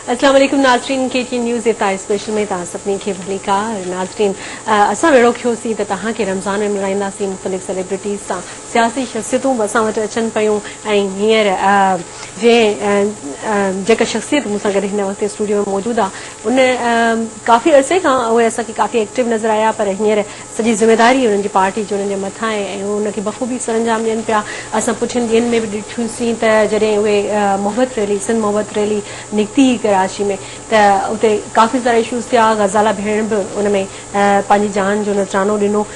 السلام عليڪم ناظرين ڪي ٽي نيوز ايتا اسپيشل ۾ توهان سڀني کي ڀلي ڪا ناظرين اسان ويڙهو کيو سي ته توهان کي رمضان ۾ ملائيندا سي مختلف سيليبرٽيز سان سياسي شخصيتون به اسان وٽ اچن پيون ۽ هينئر جي جيڪا شخصيت مون سان گڏ هن وقت اسٽوڊيو ۾ موجود آ ان ڪافي عرصي کان اهي اسان کي ڪافي ايڪٽو نظر آيا پر هينئر سڄي ذميواري انهن جي پارٽي جي انهن جي مٿان آهي ۽ اهي ان کي بخوبي سرانجام ڏين پيا اسان پٺين ڏينهن ۾ به ڏٺوسين ته جڏهن اهي محبت ريلي سنڌ محبت ريلي نڪتي هئي ڪراچي ۾ ته اتي ڪافي سارا اشوز ٿيا غزالا ڀيڻ به ان ۾ پنهنجي جان جو نذرانو ڏنو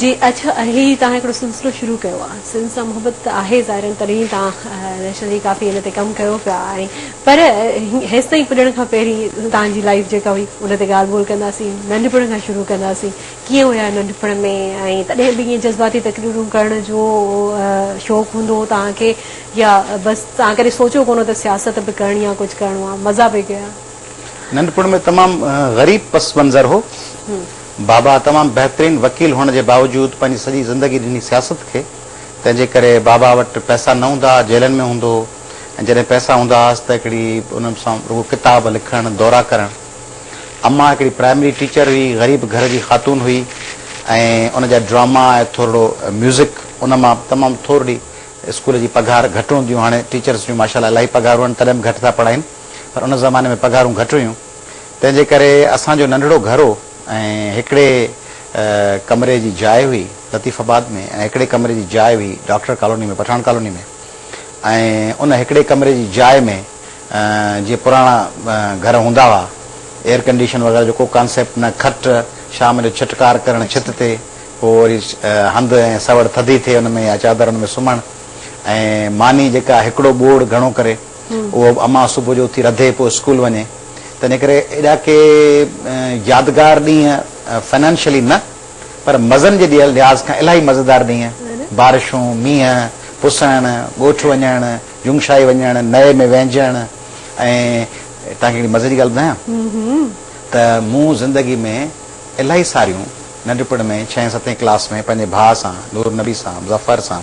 جي اچ اھي توھان ھڪڙو سلسلو شروع ڪيو آ سنڌ سان محبت ته آھي ظاھرن تڏھن توھان نيشنل جي ڪافي ان تي ڪم ڪيو پيا آھي پر ھيستائين پڄڻ کان پھرين توھان جي لائيف جيڪا ھئي ان تي ڳالھ ٻولھ ڪنداسين ننڍپڻ کان شروع ڪنداسين ڪيئن ھيا ننڍپڻ ۾ ۽ تڏھن به ائين جذباتي تقريرون ڪرڻ جو شوق ھوندو ھو توھان کي يا بس توھان ڪڏھن سوچيو ڪونه ته سياست به ڪرڻي آ ڪجھ ڪرڻو آ مزا به ڪيا. ننڍپڻ ۾ تمام غريب پس منظر ھو. بابا تمام بهترين وڪيل هئڻ جي باوجود پنهنجي سڄي زندگي ڏني سياست کي، تنهن جي ڪري بابا وٽ پئسا نه هوندا ها، جيلن ۾ هوندو هو ۽ جڏهن پئسا هوندا هئس ته هڪڙي انهن سان رڳو ڪتاب لکڻ، دورا ڪرڻ. امان هڪڙي پرائمري ٽيچر هئي، غريب گهر جي خاتون هئي ۽ ان جا ڊراما ۽ ٿورڙو ميوزڪ ان مان تمام ٿورڙي اسڪول جي پگهار گهٽ هونديون هاڻي ٽيچرس جون ماشاءالله الاهي پگهارون آهن تڏهن به گهٽ ٿا پڙهائين پر ان زماني ۾ پگهارون گهٽ هيون. تنهن جي ڪري اسان جو ننڍڙو گهر هو ۽ هڪڙي ڪمري جي جاء هئي لطيف آباد ۾ ۽ هڪڙي ڪمري جي جاء هئي ڊاڪٽر ڪالوني ۾ پٺاڻ ڪالوني ۾ ۽ ان هڪڙي ڪمري جي جاء ۾ جيئن پراڻا گهر هوندا هئا ايئر ڪنڊيشن وغيره جو ڪو ڪانسيپٽ نه کٽ شام جو ڇٽڪار ڪرڻ ڇت تي پوء وري هنڌ ۽ سوڙ ٿڌي ٿئي ان ۾ يا چادر ان ۾ سمهڻ ۽ ماني جيڪا هڪڙو ٻوڙ گهڻو ڪري اهو امان صبح جو اٿي رڌي پوء اسڪول وڃي تنهن ڪري ايڏا ڪي يادگار ڏينهن فنانشلي نه پر مزن جي لحاظ کان الاهي مزيدار ڏينهن بارشون مينهن پسڻ ڳوٺ وڃڻ جونگشاهي وڃڻ نئي ۾ وهنجڻ ۽ توهان کي هڪڙي مزي جي ڳالهه ٻڌايان ته مون زندگي ۾ الاهي ساريون ننڍپڻ ۾ ڇهين ستين ڪلاس ۾ پنهنجي ڀاء سان نور نبي سان مظفر سان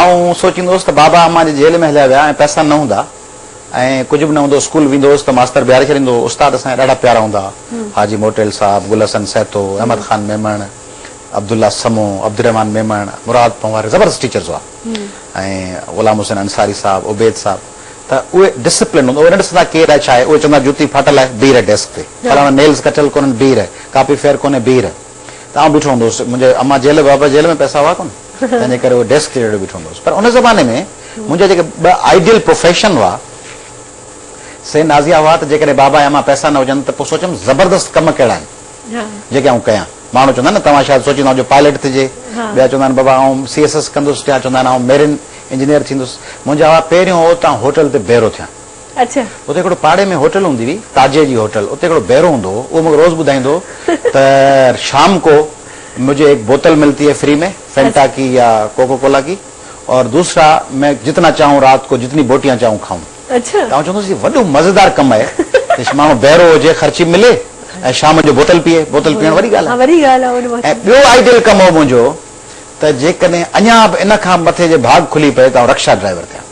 آئون سوچيندو هوس ته بابا امان جي جيل ۾ هليا ويا ۽ پئسا نه هوندا ۽ ڪجهه به نه هوندو، اسڪول ويندو هوس ته ماستر بيهاري ڇڏيندو هو، استاد اسان جا ڏاڍا پيارا هوندا هئا، حاجي موٽيل صاحب، گل حسن سهتو، احمد خان ميمڻ، عبدالله سمو، عبدالرحمان ميمڻ، مراد پنهواري زبردست ٽيچرز هئا ۽ غلام حسين انصاري صاحب، عبيد صاحب ته اهي ڊسپلن هوندو هو، اهي نه ڏسندا ڪير آهي ڇا آهي، اهي چوندا جوتي ڦاٽل آهي، بيهه رهه ڊيسڪ تي، فلاڻو نيلز ڪٽيل ڪونهن بيهه رهه، ڪاپي فيئر ڪونهي بيهه رهه. ته آئون بيٺو هوندو هوس. منهنجي اما جيل ۽ بابا جيل ۾ پئسا هئا ڪونه، تنهن جي ڪري هو ڊيسڪ تي چڙهي بيٺو هوندو هوس. پر ان زماني ۾ منهنجا جيڪي ٻه آئيڊيل پروفيشن هئا، سي نازيا هئا ته جيڪڏهن بابا ۽ اما پئسا نه هجن ته پوء سوچيم زبردست ڪم ڪهڙا آهن، جيڪي آئون ڪيان. ماڻهو چوندا آهن نه، توهان شايد سوچيندا هجو پائليٽ ٿجي، ٻيا چوندا آهن بابا آئون سي ايس ايس ڪندس، ٽيا چوندا آهن آئون ميرين انجنيئر ٿيندس. منهنجا هئا پهريون هو ته آئون هوٽل تي بيرو ٿيان. اتي هڪڙو پاڙي ۾ هوٽل هوندي هئي، تاجي جي هوٽل، اتي هڪڙو بئرو هوندو هو، اهو مون کي روز ٻڌائيندو هو ته شام ڪو مجهي هڪ بوتل ملتي هي فري ۾ فينٽا ڪي يا ڪوڪو ڪولا ڪي اور دوسرا مين جتنا چاهون رات ڪو جتني بوٽيان چاهون کائون. ته آئون چوندو هوس هي وڏو مزيدار ڪم آهي ته ماڻهو بئرو هجي خرچي ملي ۽ شام جو بوتل پيئي، بوتل پيئڻ وڏي ڳالهه آهي ۽ ٻيو آئيڊيل ڪم هو منهنجو ته جيڪڏهن اڃا به ان کان مٿي جي ڀاڳ کلي پئي ته آئون رڪشا ڊرائيور ٿيان.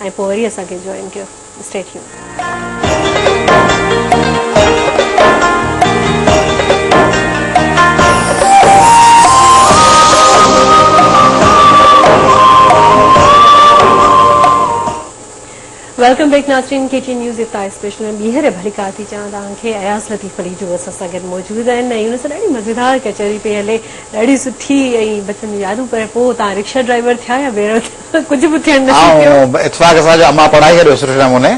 ۽ پوء وري اسان کي جوائن ڪيو Stay Tuned. ويلڪم بيڪ ناظرين ڪي ٽي نيوز افتاح اسپيشل ۾ ٻيهر ڀليڪار ٿي چوان توهان کي اياز لطيف علي جو اسان سان گڏ موجود آهن ۽ ان سان ڏاڍي مزيدار ڪچهري پئي هلي ڏاڍي سٺي ۽ بچپن جون يادون پر پوء توهان رڪشا ڊرائيور ٿيا يا بيرو ٿيا ته ڪجهه به ٿيڻ نصيب ٿيو. آئون اتفاق سان جو امان پڙهائي ڇڏيو سٺي نموني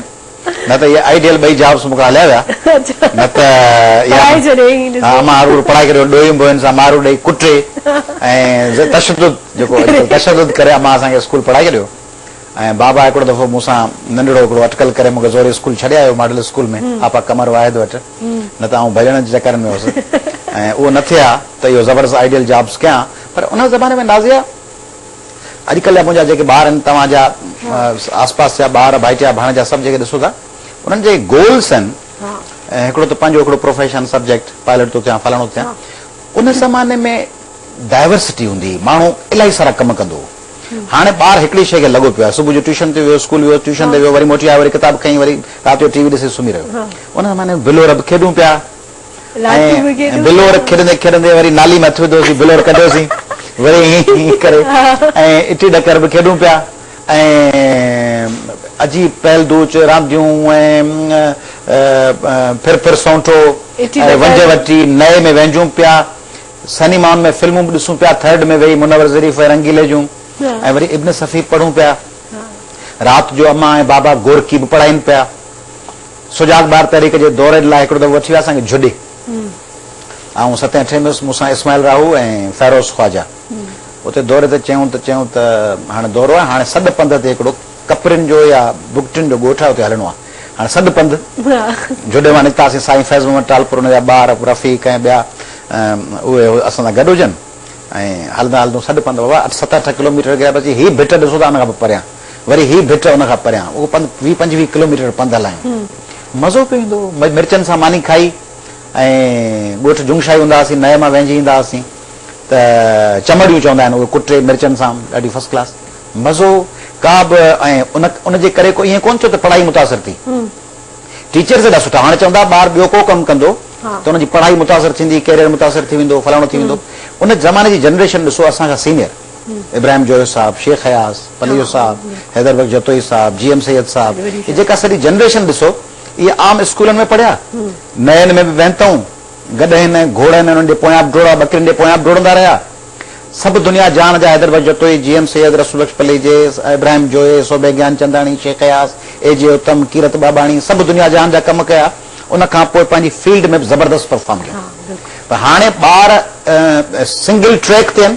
نه ته اهي آئيڊيل ٻئي جابس مون کان هليا ويا نه ته پڙهائي ڇڏيائين ڏسي. امان اروڙ پڙهائي ڪري ڏوهين ٻوهين سان مارو ڏئي ڪٽي ۽ تشدد جيڪو اڄڪلهه تشدد ڪري امان اسان کي اسڪول پڙهائي ڇڏيو ۽ بابا هڪڙو دفعو مون سان ننڍڙو هڪڙو اٽڪل ڪري مون کي زوري اسڪول ڇڏي آيو ماڊل اسڪول ۾ آپا قمر واحد وٽ نه ته آئون ڀڄڻ جي چڪرن ۾ هوس ۽ اهو نه ٿئي ها ته اهو زبردست آئيڊيل جابس ڪيان پر ان زماني ۾ نازيه اڄ ڪلهه جا منهنجا جيڪي ٻار آهن توهان جا آس پاس جا ٻار ڀائٽيا ڀاڻيجا سڀ جيڪي ڏسو ٿا انهن جي گولس آهن هڪڙو ته پنهنجو هڪڙو پروفيشن سبجيڪٽ پائليٽ ٿو ٿيان فلاڻو ٿيان ان زماني ۾ ڊائيورسٽي هوندي هئي ماڻهو الائي سارا ڪم ڪندو هو هاڻي ٻار هڪڙي شيء کي لڳو پيو آهي صبح جو ٽيوشن تي ويو اسڪول ويو ٽيوشن تي ويو وري موٽي آيو وري ڪتاب کئي وري رات جو ٽي وي ڏسي سمهي رهيو ان زماني ۾ بلورب کيڏون پيا ۽ بلوڙ کيڏندي کيڏندي وري نالي مان اٿي وڌوسين بلوڙ ڪڍيوسين وري ائين ائين ڪري ۽ اٽي ڏڪر به کيڏون پيا ۽ عجيب پهل دوچ رانديون ۽ ڦر ڦر سونٺو ۽ ونجهه وٽي نئي ۾ وهنجون پيا سئنيمائن ۾ فلمون به ڏسون پيا ٿرڊ ۾ ويهي منور ظريف ۽ رنگيلي جون ۽ وري ابن صفي به پڙهون پيا رات جو امان ۽ بابا گورڪي به پڙهائين پيا. سجاڳ ٻار تحريڪ جي دوري لاء هڪڙو دفعو اچي ويا اسان کي جھڏي. آئون ستين اٺين ۾ هيس، مون سان اسماعيل راهو ۽ فيروز خواجا. اتي دوري تي چيون ته چيون ته هاڻي دورو آهي، هاڻي سڏ پنڌ تي هڪڙو ڪپرين جو يا بگٽين جو ڳوٺ آهي اتي هلڻو آهي. هاڻي سڏ پنڌ جھڏي مان نڪتاسين، سائين فيض محمد ٽالپر ان جا ٻار رفيق ۽ ٻيا اهي اسان سان گڏ هجن ۽ هلندان هلندون سڏ پنڌ بابا ست اٺ ڪلوميٽر اڳيان پهچي هي ڀٽ ڏسو ٿا ان کان به پريان. وري هي ڀٽ ان کان پريان اهو پنڌ ويهه پنجويهه ڪلوميٽر پنڌ هلايون. مزو پيو ايندو هو. مرچن سان ماني کائي ۽ ڳوٺ جنگشاهي هوندا هئاسين، نئي مان وهنجي ايندا هئاسين ته چمڙيون چوندا آهن اهي ڪٽي مرچن سان ڏاڍي فرسٽ ڪلاس مزو ڪا به ۽ ان جي ڪري ڪو ائين ڪونه ٿيو ته پڙهائي متاثر ٿي. ٽيچرز ايڏا سٺا هاڻي چون ٿا ٻار ٻيو ڪو ڪم ڪندو ته ان جي پڙهائي متاثر ٿيندي، ڪيريئر متاثر ٿي ويندو، فلاڻو ٿي ويندو. ان زماني جي جنريشن ڏسو اسان کان سينيئر. ابراهيم جويو صاحب، شيخ اياز، پليجو صاحب، حيدر بخش جتوئي صاحب، جي ايم سيد صاحب، هي جيڪا سڄي جنريشن ڏسو اهي عام اسڪولن ۾ پڙهيا، نئين ۾ به وهنتئون، گڏهين ۽ گهوڙن ۽ انهن جي پويان به ڊوڙا، ٻڪرين جي پويان به ڊوڙندا رهيا. سڀ دنيا جهان جا حيدر بخش جتوئي، جي ايم سيد، رسول بخش پليجي، ابراهيم جويي، صوڀي گيانچنداڻي، شيخ اياز، اي جي اتم، ڪيرت ٻاٻاڻي، سڀ دنيا جهان جا ڪم ڪيا. ان کان پوء پنهنجي فيلڊ ۾ به زبردست پرفارم ڪيو پر هاڻي ٻار سنگل ٽريڪ تي آهن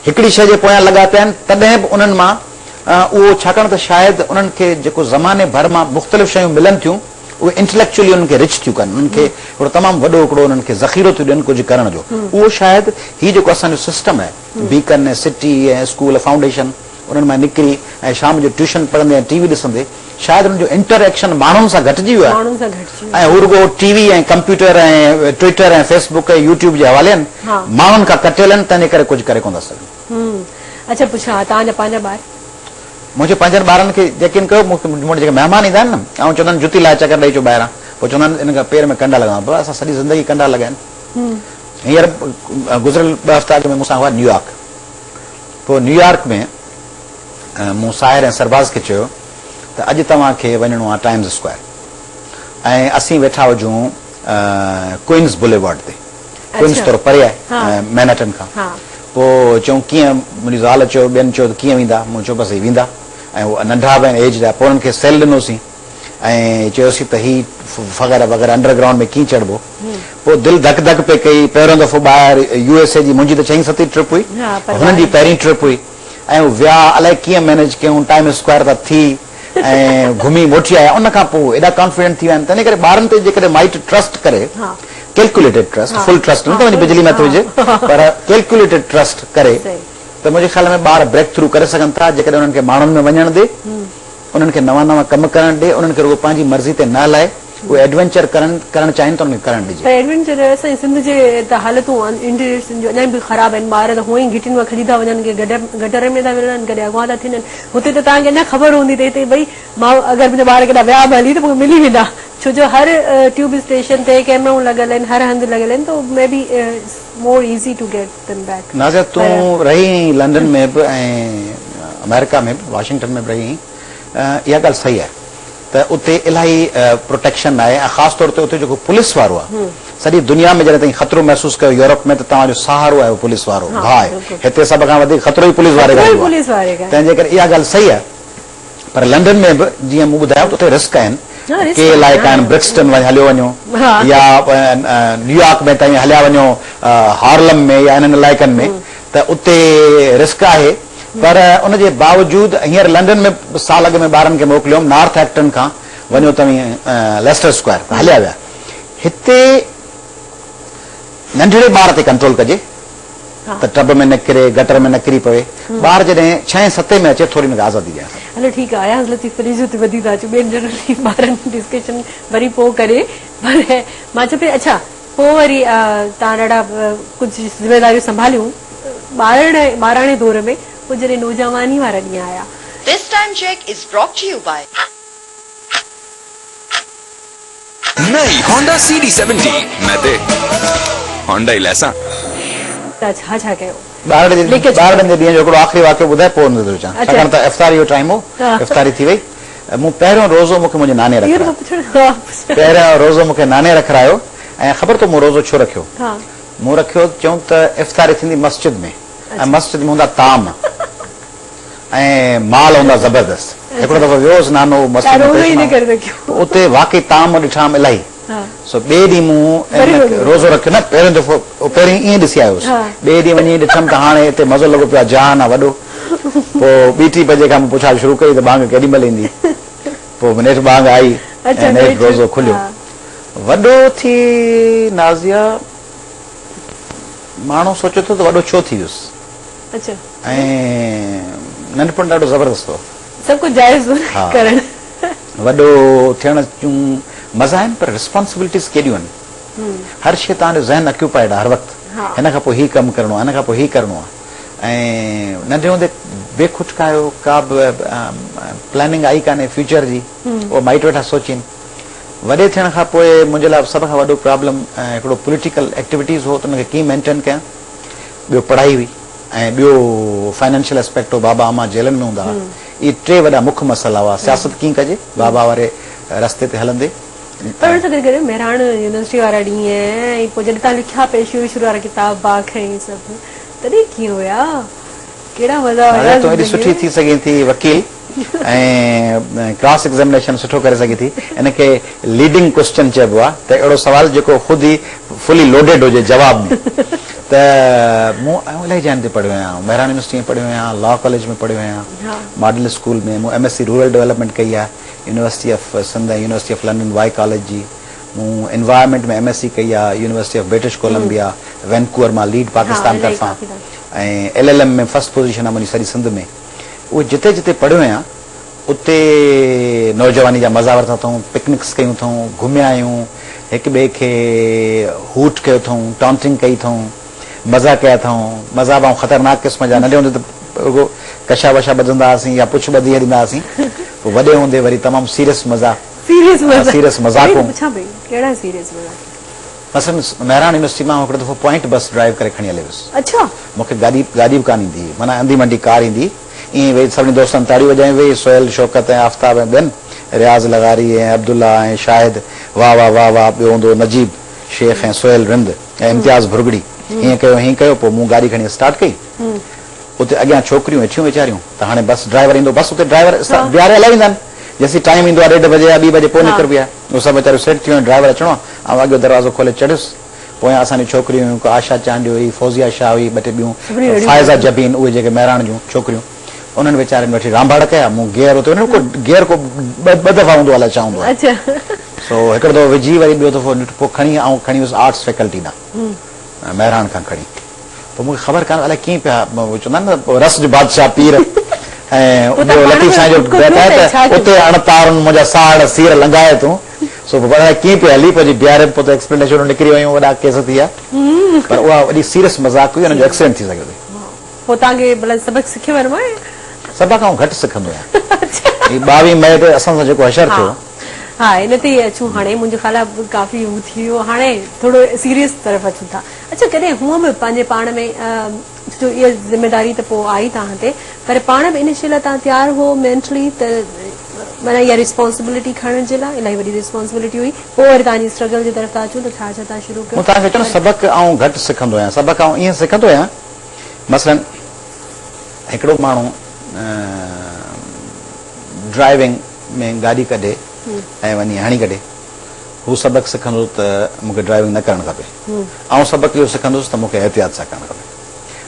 هڪڙي شيء جي پويان لڳا پيا آهن تڏهن به انهن مان اهو ڇاڪاڻ ته شايد انهن کي جيڪو زماني ڀر مان مختلف شيون ملن ٿيون اهي انٽليڪچولي انهن کي رچ ٿيون ڪن انهن کي هڪڙو تمام وڏو هڪڙو انهن کي ذخيرو ٿيون ڏين ڪجهه ڪرڻ جو اهو شايد هي جيڪو اسان جو سسٽم آهي بيڪن ۽ سٽي ۽ اسڪول فائونڊيشن انهن مان نڪري ۽ شام جو ٽيوشن پڙهندي ۽ ٽي وي ڏسندي شايد هنن جو انٽر ايڪشن ماڻهن سان گهٽجي ويو آهي ۽ هو رڳو T V ۽ computer ۽ Twitter ۽ Facebook ۽ YouTube جي حوالين ماڻهن کان ڪٽيل آهن تنهن جي ڪري ڪجهه ڪري ڪونه ٿا سگهن. اڇا پڇا توهان جا پنهنجا ٻار؟ منهنجي پنهنجن ٻارن کي يقين ڪيو مون وٽ جيڪي مهمان ايندا آهن نه آئون چوندو آهيان جتي لاهي چڪر ڏئي اچو ٻاهران پوء چوندا آهن انهن کي پير ۾ ڪنڊا لڳندا بابا اسان سڄي زندگي ڪنڊا لڳايا آهن هينئر گذريل ٻه هفتا اڳ ۾ مون سان هئا نيويارڪ پوء نيويارڪ ۾ مون ساحر ۽ سرباز کي چيو ته اڄ توهان کي وڃڻو آهي ٽائمز اسڪوائر ۽ اسين ويٺا هجون ڪوئنز بوليوارڊ تي. ڪوئنز ٿورو پري آهي مينهٽن کان. پوء چيائون ڪيئن؟ منهنجي زال چيو ٻين چيو ته ڪيئن ويندا؟ مون چيو بس هي ويندا ۽ هو ننڍا به آهن ايجڊ آهي. پوء انهن کي سيل ڏنوسين. ۽ چيوسين ته هي فغيره وغيره انڊر گرائونڊ ۾ ڪيئن چڙهبو؟ پوء دل ڌڪ ڌڪ پئي ڪئي، پهريون دفعو ٻاهر يو ايس اي جي، منهنجي ته ڇهين ستين ٽرپ هئي، هنن جي پهرين ٽرپ هئي ۽ ويا الائي ڪيئن مينيج ڪيائون، ٽائيم اسڪوائر تان ٿي ۽ گهمي موٽي آيا، ان کان پوء هو ايڏا ڪانفيڊنٽ ٿي ويا آهن، تنهن ڪري ٻارن تي جيڪڏهن مائٽ ٽرسٽ ڪري، ڪيلڪيوليٽيڊ ٽرسٽ، فل ٽرسٽ نه ته وڃي بجلي مٿ هجي، پر ڪيلڪيوليٽيڊ ٽرسٽ ڪري ته منهنجي خيال ۾ ٻار بريڪ ٿرو ڪري سگهن ٿا، جيڪڏهن انهن کي ماڻهن ۾ وڃڻ ڏي. انهن کي نوان نوان ڪم ڪرڻ ڏي، انهن کي رڳو پنهنجي مرضي تي نه هلائي، اهي ايڊوينچر ڪرن، ڪرڻ چاهين ته انهن کي ڪرڻ ڏجي. پر ايڊوينچر اسان جي سنڌ جي ته حالتون انٽيريئرس جون اڃا به خراب آهن، ٻار ته هونئن ئي گهٽين مان کڄي ٿا وڃن، ڪي گٽرن ۾ ٿا ورڙن، ڪڏهن اغوا ٿا ٿين، هتي ته توهان کي اڃا خبر هوندي ته هتي ڀئي ماء اگر منهنجا ٻار ڪيڏانهن ويا به هلي ته مونکي ملي ويندا، ڇو جو هر ٽيوب اسٽيشن تي ڪيمرائون لڳل آهن، هر هنڌ لڳل آهن ته maybe it's more easy to get. Nazia تون رهي آهين لنڊن ۾ به ۽ آمريڪا ۾ به واشنگٽن ۾ به رهي آهين اها ڳالهه صحيح آهي ته اتي الاهي پروٽيڪشن ناهي ۽ خاص طور تي اتي جيڪو پوليس وارو آهي سڄي دنيا ۾ جڏهن تائين خطرو محسوس ڪيو يورپ ۾ ته توهان جو سهارو آهي اهو پوليس وارو ڀاء آهي هتي سڀ کان وڌيڪ خطرو ئي پوليس واري کان ايندو آهي تنهن جي ڪري اها ڳالهه صحيح آهي پر لنڊن ۾ به جيئن مون ٻڌايو ته اتي رسڪ آهن ڪي علائقا آهن برڪسٽن وڃي هليو وڃو يا نيويارڪ ۾ تائين هليا وڃو هارلم ۾ يا انهن علائقن ۾ ته اتي رسڪ آهي پر ان جي باوجود هينئر لنڊن ۾ سال اڳ ۾ ٻارن کي موڪليو هوم نارٿ ايڪٽن کان وڃو توهين ليسٽر اسڪوائر ته هليا ويا هتي ننڍڙي ٻار تي ڪنٽرول ڪجي ته ٽب ۾ نه ڪري، گٽر ۾ نه ڪري پوي. ٻار جڏهن ڇهين ستين ۾ اچي ٿوري هن کي آزادي ڏيڻ کپي. هلو ٺيڪ آهي اياز لطيف پليجو تي وڌي ٿا اچون ٻين جنرلي ٻارن ڊسڪشن وري پوء ڪري پر مان چئي پئي اڇا پوء وري تان ڏاڍا ڪجهه ذميواريون سنڀاليون ٻارڙ ٻاراڻي دور ۾ پوء جڏهن نوجواني وارا ڏينهن آيا. This time check is brought to you by. نئين هونڊا سي ڊي سيونٽي مين تي هونڊا ئي ليسان. ته ڇا ڇا ڪيو؟ ٻارڙي جي ٻارڙن جي ڏينهن جو هڪڙو آخري واقعو ٻڌائي پوء نظر ٿو وجهان ڇاڪاڻ ته افطاري جو ٽائيم هو افطاري ٿي وئي مون پهريون روزو مون کي منهنجي ناني رکرايو پهريون روزو مون کي ناني رکرايو ۽ خبر اٿو مون روزو ڇو رکيو مون رکيو چيون ته افطاري ٿيندي مسجد ۾ ۽ مسجد ۾ هوندا طعام ۽ مال هوندا زبردست. هڪڙو دفعو ويو هوس نانو مستيء ۾ پيش ماڻهو هو. اتي واقعي طعام ڏٺام الاهي. سو ٻئي ڏينهن مون ان روزو رکيو نه پهريون دفعو اهو پهرين ائين ڏسي آيو هوس. ٻئي ڏينهن وڃي ڏٺم ته هاڻي اتي مزو لڳو پيو آهي جهان آن وڏو. پوء ٻي ٽي بجي کان مون پڇاڙ شروع ڪئي ته ٻانگ ڪيڏي مهل ايندي. پوء نيٺ ٻانگ آئي ۽ نيٺ روزو کليو. وڏو ٿي نازيه ماڻهو سوچي ٿو ته وڏو ڇو ٿي ويس. ۽ ننڍپڻ ڏاڍو زبردست هو. سڀ ڪجهه جائز هو نه ڪرڻ. وڏو ٿيڻ جون مزا آهن پر رسپانسبلٽيز ڪيڏيون آهن. هر شيء توهان جو ذهن اڪيوپائيڊ آهي هر وقت. هن کان پوء هي ڪم ڪرڻو آهي هن کان پوء هي ڪرڻو آهي. ۽ ننڍي هوندي بي کٽ کايو ڪا به پلاننگ آئي ڪانهي فيوچر جي اهو مائٽ ويٺا سوچين. وڏي ٿيڻ کان پوء منهنجي لاء سڀ کان وڏو پرابلم هڪڙو پوليٽيڪل ايڪٽيوٽيز هو ته ان کي ڪيئن مينٽين ڪيان. ٻيو پڙهائي هئي ۽ ٻيو فنانشل اسپيڪٽ هو، بابا امان جيلن ۾ هوندا هئا. اهي ٽي وڏا مک مسئلا هئا، سياست ڪيئن ڪجي، بابا واري رستي تي هلندي. پر ان سان گڏ گڏ مهراڻ يونيورسٽي وارا ڏينهن ۽ پوء جڏهن توهان لکيا پئي شروع شروع وارا ڪتاب باک ۽ اهي سڀ تڏهن ڪيئن هيا، ڪهڙا مزا هيا زندگي ۾. نظر تون ايڏي سٺي ٿي سگهين ٿي وڪيل. ۽ ڪراس ايگزامينيشن سٺو ڪري سگهي ٿي ان کي ليڊنگ ڪوسچن چئبو آهي ته اهڙو سوال جيڪو خود ئي فلي لوڊيڊ هجي جواب ۾ ته مون الائي جاين تي پڙهيو آهيان مهراڻ يونيورسٽي ۾ پڙهيو آهيان لا ڪاليج ۾ پڙهيو آهيان ماڊل اسڪول ۾ مون M S C rural development ڪئي آهي university of Sindh ۽ university of London Wye college جي مون انوائرمينٽ ۾ ايم ايس سي ڪئي آهي university of British Columbia Vancouver مان ليڊ پاڪستان طرفان ۽ L L M ۾ first position آهي منهنجي سڄي سنڌ ۾ اهي جتي جتي پڙهيو آهيان اتي نوجواني جا مزا ورتا اٿئون، پڪنڪس ڪيون اٿئون، گهميا آهيون، هڪ ٻئي کي هوٽ ڪيو اٿئون، ٽانٽنگ ڪئي اٿئون، مزا ڪيا اٿئون، مزا به آئون خطرناڪ قسم جا، ننڍي هوندي ته رڳو ڪشا وشا ٻڌندا هئاسين يا پڇ ٻڌي هليندا هئاسين، پوء وڏي هوندي وري تمام سيريس مزا، سيريس مزا، سيريس مزاقون. مثلاً مهراڻ يونيورسٽي مان آئون هڪڙو دفعو پوائنٽ بس ڊرائيو ڪري کڻي هليو هيس. اڇا! مون کي گاڏي گاڏي به ڪانه ايندي هئي، معنيٰ انڌي منڊي ڪار ايندي هئي. ائين ئي ويهي سڀني دوستن تاڙيون وڄايون ويهي سهيل، شوڪت ۽ آفتاب ۽ ٻين، رياض لغاري ۽ عبدالله ۽ شاهد، واهه واهه واهه واهه، ٻيو هوندو هو نجيب شيخ ۽ سهيل رند ۽ امتياز ڀرڳڙي. هيئن ڪيو هيئن ڪيو پوء مون گاڏي کڻي اسٽارٽ ڪئي. اتي اڳيان ڇوڪريون ويٺيون ويچاريون ته هاڻي بس ڊرائيور ايندو، بس اتي ڊرائيور بيهاري هلائي ويندا آهن. جيسين ٽائيم ايندو آهي ڏيڍ بجي يا ٻي بجي پوء نڪربي آهي. هو سڀ ويچاريون سيٽ ٿيون ۽ ڊرائيور اچڻو هو. آئون اڳيون دروازو کولي چڙهيس. پويان اسان جون ڇوڪريون هيون. هڪ آشا چانڊيو هئي، فوزيه شاهه هئي، ٻه ٽي ٻيون فائزه جبين، اهي جيڪي مهراڻ جون ڇوڪريون. انهن ويچارين وٺي رانڀاڙ ڪيا. مون گيئر اتي هن ڪو گيئر ڪو ٻه دفعا هوندو آهي الاء ڇا هوندو آهي. سو هڪڙو دفعو وجهي وري ٻيو دفعو نٽ پوء کڻي آئون کڻي ويس آرٽس فيڪلٽي ڏانهن. مهراڻ کان کڻي. پر مون کي خبر ڪانه الائي ڪيئن پيا چوندا آهن نه رس جو بادشاهه پير ۽ ٻيو لطيف سائين جو بيت آهي ته اتي اڻ تارن منهنجا ساهڙ سير لنگهائي تون سو پوء الائي ڪيئن پيا هلي پنهنجي بيهارين پوء ته ايڪسپلينيشنون نڪري ويون وڏا ڪيس ٿي ويا پر اها وڏي سيريس مذاق هئي ان جو ايڪسيڊنٽ ٿي سگهيو اٿي پوء توهان کي بلڪ سبق سکيو ويو آهي سڀ کان گهٽ سکندو آهيان هي ٻاوهين مئي تي اسان سان جيڪو حشر ٿيو ها ان تي اچون هاڻي منهنجو خيال آهي ڪافي هو ٿي ويو هاڻي ٿورو سيريس طرف اچون ٿا اچا ڪڏهن هونء به پنهنجي پاڻ ۾ جو اها ذميداري ته پوء آئي توهان تي پر پاڻ به ان شيء لاء توهان تيار هئو مينٽلي ته معنيٰ اها ريسپانسبلٽي کڻڻ جي لاء الاهي وڏي ريسپانسبلٽي هئي پوء وري توهان جي اسٽرگل جي طرف ٿا اچون ته ڇا ڇا توهان شروع ڪيو مون توهان کي چيو نه پر سبق آئون گهٽ سکندو آهيان سبق آئون ائين سکندو آهيان مثلاً هڪڙو ماڻهو ڊرائيونگ ۾ گاڏي ڪڍي ۽ وڃي هڻي ڪڍي هو سبق سکندو ته مون کي ڊرائيونگ نه ڪرڻ کپي. آئون سبق اهو سکندس ته مون کي احتياط سان ڪرڻ کپي.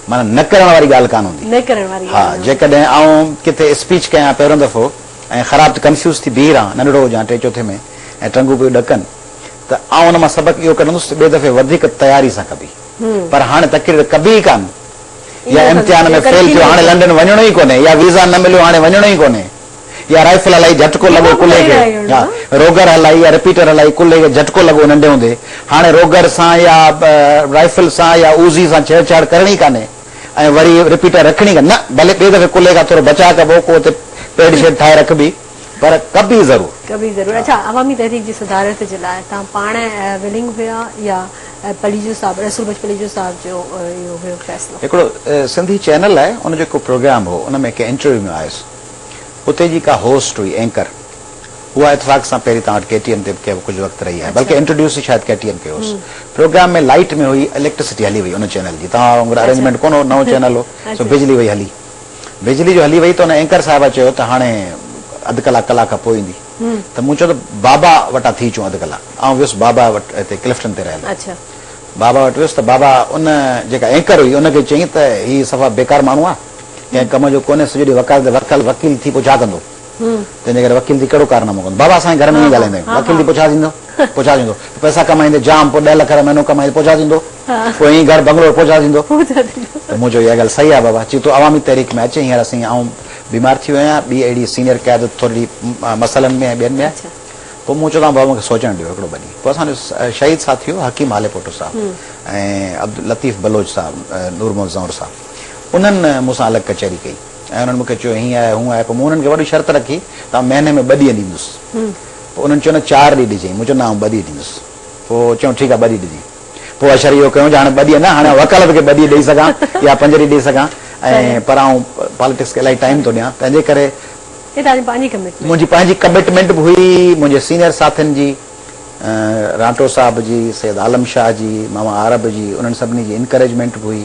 معنيٰ نه ڪرڻ واري ڳالهه ڪانه هوندي. نه ڪرڻ واري ڳالهه نه هوندي. ها جيڪڏهن آئون ڪٿي اسپيچ ڪيان پهريون دفعو ۽ خراب ته ڪنفيوز ٿي بيهي رهان، ننڍڙو هجان ٽئين چوٿين ۾ ۽ ٽنگون پيون ڏڪن ته آئون ان مان سبق اهو ڪڍندس ته ٻئي دفعي وڌيڪ تياري سان ڪبي. پر هاڻي تقرير ڪبي ئي ڪانه. يا امتحان ۾ فيل ٿيو هاڻي لنڊن وڃڻو ئي ڪونهي يا ويزا نه مليو هاڻي وڃڻو ئي ڪونهي. يا رائفل هلائي جهٽڪو لڳو ڪلهي کي يا روگر هلائي يا رپيٽر هلائي ڪلهي کي جهٽڪو لڳو ننڍي هوندي هاڻي روگر سان يا رائفل سان يا اوزي سان ڇيڙ ڇاڙ ڪرڻي ئي ڪانهي ۽ وري رپيٽر رکڻي ڪانهي نه ڀلي ٻئي دفعي ڪلهي کان ٿورو بچاء ڪبو ڪو اتي پيڊ شيڊ ٺاهي رکبي پر ڪبي ضرور. ڪبي ضرور اڇا عوامي تحريڪ جي صدارت جي لاء توهان پاڻ ولنگ هيا يا پليجو صاحب رسول بخش پليجو صاحب جو اهو هيو فيصلو. هڪڙو سنڌي چينل آهي ان جو هڪ پروگرام هو ان ۾ ڪنهن انٽرويو ۾ آيس. اتي جي ڪا هوسٽ هئي اينڪر اها اتفاق سان پهرين توهان وٽ ڪي ٽي ايم تي به ڪجهه وقت رهي آهي بلڪه انٽروڊيوس ئي شايد ڪي ٽي ايم کي هوس پروگرام ۾ لائيٽ ۾ هئي اليڪٽرسٽي هلي وئي ان چينل جي توهان وانگر ارينجمينٽ ڪونه هو نئون چينل هو سو بجلي وئي هلي بجلي جو هلي وئي ته ان اينڪر صاحبه چيو ته هاڻي اڌ ڪلاڪ ڪلاڪ کان پوء ايندي ته مون چيو ته بابا وٽان ٿي اچون اڌ ڪلاڪ آئون ويس بابا وٽ هتي ڪلفٽن تي رهيل هو بابا وٽ ويس ته بابا ان جيڪا اينڪر هئي ان کي چيائين ته هي صفا بيڪار ماڻهو آهي ڪنهن ڪم جو ڪونهي سڄو ڏينهن وڪالت تي ورتل وڪيل ٿي پوء ڇا ڪندو تنهنجي ڪري وڪيل ٿي ڪهڙو ڪارنامو ڪندو بابا اسان جي گهر ۾ ائين ڳالهائيندا آهيون وڪيل ٿي پوء ڇا ٿيندو پوء ڇا ٿيندو پئسا ڪمائيندي جام پوء ڏهه لک رپيا مهينو ڪمائيندي پوء ڇا ٿيندو پوء ائين گهر بنگلو پوء ڇا ٿيندو ته مون چيو اها ڳالهه صحيح آهي بابا چي تون عوامي تحريڪ ۾ اچ هينئر سائين آئون بيمار ٿي ويو آهيان ٻي اهڙي سينئر قيادت ٿورڙي مسئلن ۾ ۽ ٻين ۾ آهي پوء مون چيو تان بابا مون کي سوچڻ ڏيو هڪڙو ٻه ڏينهن پوء اسان جو شهيد ساٿي هو حڪيم هاليپوٽو صاحب ۽ عبداللطيف بلوچ صاحب نورمحمد زئور صاحب انهن مون سان الڳ ڪچهري ڪئي ۽ انهن مون کي چيو هيئن آهي هونء آهي پوء مون انهن کي وڏي شرط رکي ته آئون مهيني ۾ ٻه ڏينهن ڏيندس پوء انهن چيو نه چار ڏينهن ڏجئين مون چيو نه آئون ٻه ڏينهن ڏيندس پوء چيائون ٺيڪ آهي ٻه ڏينهن ڏجئين پوء اشر اهو ڪيائون جو هاڻي ٻه ڏينهن نه هاڻي آئون وڪالت کي ٻه ڏينهن ڏئي سگهان يا پنج ڏينهن ڏئي سگهان ۽ پر آئون پاليٽڪس کي الائي ٽائيم ٿو ڏيان تنهنجي ڪري هي توهان جي پنهنجي ڪمٽمينٽ منهنجي پنهنجي ڪمٽمينٽ به هئي منهنجي سينيئر ساٿين جي رانٽو صاحب جي سيد عالم شاهه جي ماما عارب جي انهن سڀني جي انڪريجمينٽ به هئي.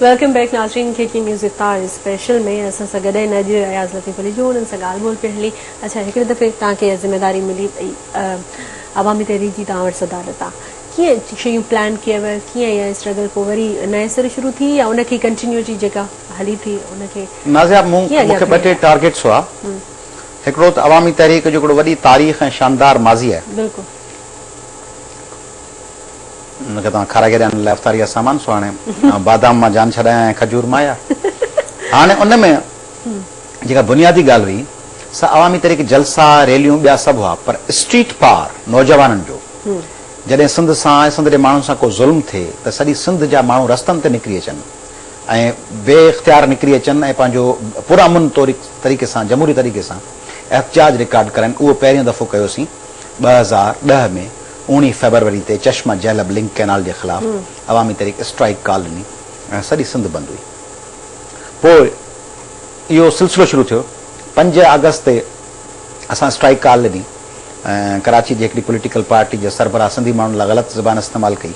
ويلڪم بيڪ ناظرين ڪي ڪي نيوز افطار اسپيشل ۾ اسان سان گڏ آهن اڄ اياز لطيف علي جو انهن سان ڳالهه ٻولهه پڻ هلي اچا هڪڙي دفعي توهان کي ذميواري ملي وئي عوامي تحريڪ جي توهان وٽ صدارت آهي ڪيئن شيون پلان ڪيو ويو ڪيئن اها اسٽرگل پوء وري نئين سر شروع ٿي يا ان کي ڪنٽينيوٽي جيڪا هلي ٿي ان کي نازيا مون کي ٻه ٽي ٽارگيٽس هئا هڪڙو ته عوامي تحريڪ جو هڪڙو وڏي تاريخ ۽ شاندار ماضي آهي. بلڪل. ان کي توهان کارا گيڏا ان لاء افطاري جا سامان سو هاڻي بادام مان جان ڇڏايان ۽ کجور مان يا هاڻي ان ۾ جيڪا بنيادي ڳالهه هئي سا عوامي تحريڪ جلسا ريليون ٻيا سڀ هئا پر اسٽريٽ پار نوجوانن جو جڏهن سنڌ سان ۽ سنڌ جي ماڻهن سان ڪو ظلم ٿئي ته سڄي سنڌ جا ماڻهو رستن تي نڪري اچن ۽ بي اختيار نڪري اچن ۽ پنهنجو پرامن طريقي سان جمهوري طريقي سان احتجاج رڪارڊ ڪرن اهو پهريون دفعو ڪيوسين ٻه هزار ڏهه ۾ اوڻيهه فيبروري تي چشمه جهلب لنڪ ڪئنال جي خلاف عوامي تحريڪ اسٽرائيڪ ڪال ڏني ۽ سڄي سنڌ بند هئي پوء اهو سلسلو شروع ٿيو پنج آگسٽ تي اسان اسٽرائيڪ ڪال ڏني ۽ ڪراچي جي هڪڙي پوليٽيڪل پارٽي جي سربراهه سنڌي ماڻهن لاء غلط زبان استعمال ڪئي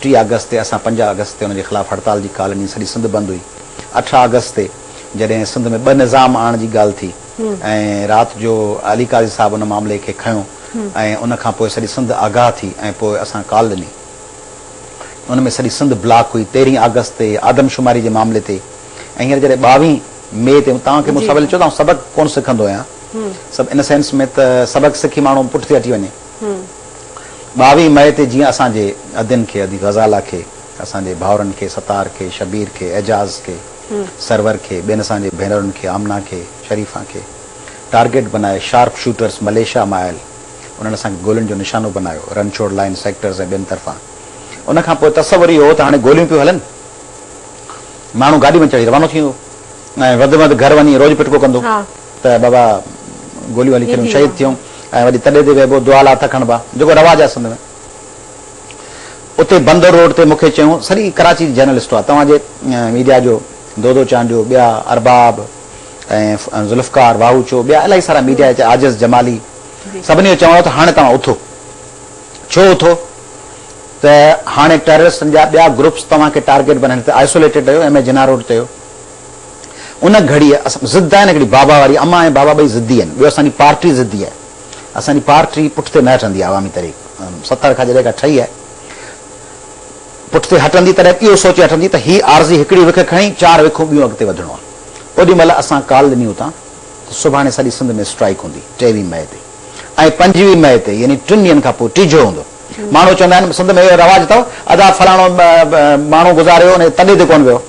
ٽي آگسٽ تي اسان پنج آگسٽ تي ان جي خلاف هڙتال جي ڪال ڏني سڄي سنڌ بند هئي اٺ آگسٽ تي جڏهن سنڌ ۾ ٻه نظام آڻڻ جي ڳالهه ٿي ۽ رات جو علي قاضي صاحب ان معاملي کي کنيو ۽ ان کان پوء سڄي سنڌ آگاهه ٿي ۽ پوء اسان ڪال ڏني ان ۾ سڄي سنڌ بلاڪ هئي تيرهين آگسٽ تي آدم شماري جي معاملي تي ۽ هينئر جڏهن ٻاوهين مئي تي توهان کي مون سان ويل چيو ته آئون سبق ڪون سکندو آهيان سب ان سينس ۾ ته سبق سکي ماڻهو پٺتي هٽي وڃي ٻاوهين مئي تي جيئن اسان جي ادين کي ادي غزالا کي اسان جي ڀائرن کي ستار کي شبير کي اعجاز کي سرور کي ٻين اسان جي ڀينرن کي آمنه کي شريفا کي ٽارگيٽ بنائي شارپ شوٽرز مليشيا مان آيل انهن اسان کي گولين جو نشانو بنايو رن ڇوڙ لائين سيڪٽرز ۽ ٻين طرفان ان کان پوء تصور اهو هو ته هاڻي گوليون پيون هلن ماڻهو گاڏي ۾ چڙهي روانو ٿيندو ۽ وڌ ۾ وڌ گهر وڃي روڄ پٽڪو ڪندو. ته بابا گوليون هلي ڪريون شهيد ٿيون ۽ وڏي تڏي تي ويهبو دعا لا هٿ کڻبا جيڪو رواج آهي سنڌ ۾ اتي بندر روڊ تي مونکي چيون سڄي ڪراچي جي جرنلسٽ هئا توهان جي ميڊيا جو دودو چانڊيو ٻيا ارباب ۽ ذوالفقار واهوچو ٻيا الاهي سارا ميڊيا هتي عاجز جمالي سڀني جو چوڻ هو ته هاڻي توهان اٿو ڇو اٿو ته هاڻي ٽيررسٽن جا ٻيا گروپس توهان کي ٽارگيٽ بنائين هتي آئسوليٽيڊ رهيو ايم اي جناح روڊ تي هو ان گهڙيء اسان ضد آهن هڪڙي بابا واري امان ۽ بابا ٻئي ضدي آهن ٻيو اسان جي پارٽي ضدي آهي اسان جي پارٽي پٺتي نه هٽندي آهي عوامي تحريڪ ستر کان جڏهن کان ٺهي آهي پٺتي هٽندي تڏهن اهو سوچي هٽندي ته هي عارضي هڪڙي وک کڻي چار وکون ٻيون اڳتي وڌڻو آهي اوڏي مهل اسان ڪال ڏني اتان ته سڀاڻي سڄي سنڌ ۾ اسٽرائيڪ هوندي ٽيويهه مئي تي ۽ پنجويهه مئي تي يعني ٽن ڏينهن کان پوء ٽيجهو هوندو ماڻهو چوندا آهن سنڌ ۾ اهو رواج اٿو ادا فلاڻو ماڻهو گذاريو ويو تڏي تي ڪونه ويو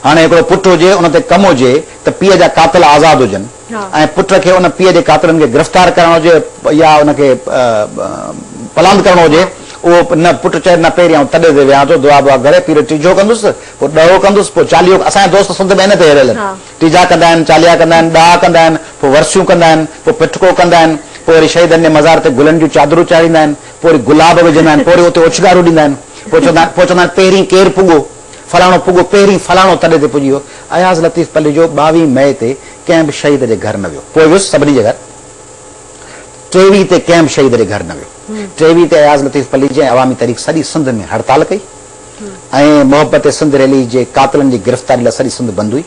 هاڻي هڪڙو پٽ هجي ان تي ڪم هجي ته پيء جا قاتل آزاد هجن ۽ پٽ کي ان پيء جي قاتلن کي گرفتار ڪرڻ هجي يا ان کي پلاند ڪرڻو هجي اهو نه پٽ چئي نه پهرين آئون تڏي تي ويهان ٿو دعا بوا ڪري پير ٽيجهو ڪندس پوء ڏهو ڪندس پوء چاليهو اسان جا دوست سنڌ ۾ هن تي هيريل آهن ٽيجها ڪندا آهن چاليها ڪندا آهن ڏها ڪندا آهن پوء ورسيون ڪندا آهن پوء پٺڪو ڪندا آهن پوء وري شهيدن جي مزار تي گلن جون چادرون چاڙهيندا آهن پوء وري گلاب وجهندا آهن پوء وري اتي اوڇنگارون ڏيندا آهن پوء چوندا آهن پوء چوندا آهن پهرين ڪير پڳو فلاڻو پڳو پهرين فلاڻو تڏي تي پڄي ويو. اياز لطيف پليجو ٻاوهين مئي تي ڪنهن به شهيد جي گهر نه ويو. پوء ويس سڀني جي گهر. ٽيويهين تي ڪنهن به شهيد جي گهر نه ويو. ٽيويهين تي اياز لطيف پليجي ۽ عوامي تحريڪ سڄي سنڌ ۾ هڙتال ڪئي ۽ محبت سنڌ ريلي جي قاتلن جي گرفتاري لاء سڄي سنڌ بند هئي.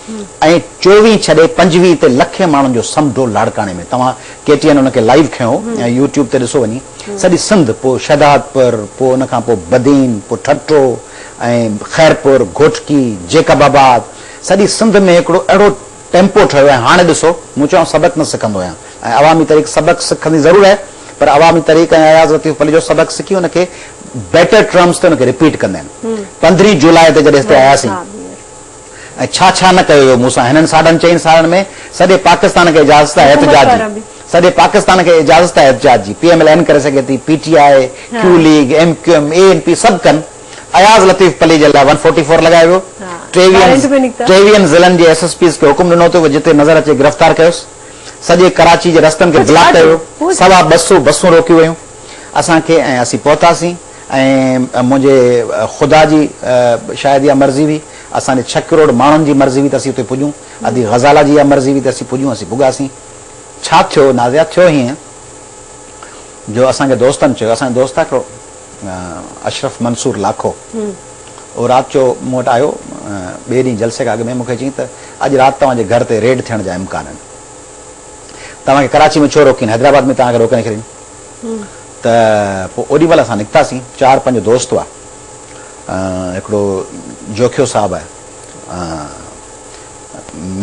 ۽ چوويهه ڇڏي پنجويهه تي لکين ماڻهن جو سمڍو لاڙڪاڻي ۾ توهان ڪي ٽي اين ان کي لائيو کنيو ۽ يو ٽيوب تي ڏسو وڃي سڄي سنڌ پوء شهدادپور پوء ان کان پوء بدين پوء ٺٽو ۽ خيرپور گهوٽڪي جيڪب آباد سڄي سنڌ ۾ هڪڙو اهڙو ٽيمپو ٺهيو ۽ هاڻي ڏسو مون چيو آئون سبق نه سکندو آهيان ۽ عوامي تحريڪ سبق سکندي ضرور آهي پر عوامي تحريڪ ۽ اياز لطيف پليجو سبق سکي ان کي بيٽر ٽرمز تي ان کي رپيٽ ڪندا آهن پندرهين جولاء تي جڏهن هتي آياسين ۽ ڇا ڇا نه ڪيو ويو مون سان هنن ساڍن چئن سالن ۾ سڄي پاڪستان کي اجازت آهي احتجاج جي سڄي پاڪستان کي اجازت آهي احتجاج جي پي ايم ايل اين ڪري سگهي ٿي پي ٽي آء ڪيو league M Q M A N P سڀ ڪن اياز لطيف پليجي لاء ون فورٽي فور لڳايو ويو ٽيويهن ٽيويهن ضلعن جي ايس ايس پيز کي حڪم ڏنو اٿو جتي نظر اچي گرفتار ڪيوس سڄي ڪراچي جي رستن کي بلاڪ ڪيو ويو سوا ٻه سو بسون روڪيون ويون اسان کي ۽ اسين پهتاسين ۽ منهنجي خدا جي شايد اها مرضي هئي اسان جي ڇهه ڪروڙ ماڻهن جي مرضي هئي ته اسين اتي پڄون، ادي غزالا جي اها مرضي هئي ته اسين پڄون، اسين پڳاسين. ڇا ٿيو نازيا؟ ٿيو هيئن جو اسان کي دوستن چيو، اسان جو دوست آهي هڪڙو اشرف منصور لاکو، اهو رات جو مون وٽ آيو ٻئي ڏينهن جلسي کان اڳ ۾ مون کي چيائين ته اڄ رات توهان جي گهر تي ريڊ ٿيڻ جا امڪان آهن، توهان کي ڪراچي ۾ ڇو روڪين، حيدرآباد ۾ توهان کي روڪي نه ڇڏين. ته پوء اوڏي مهل اسان نڪتاسين، چار پنج دوست هئا. هڪڙو جوکيو صاحب آهي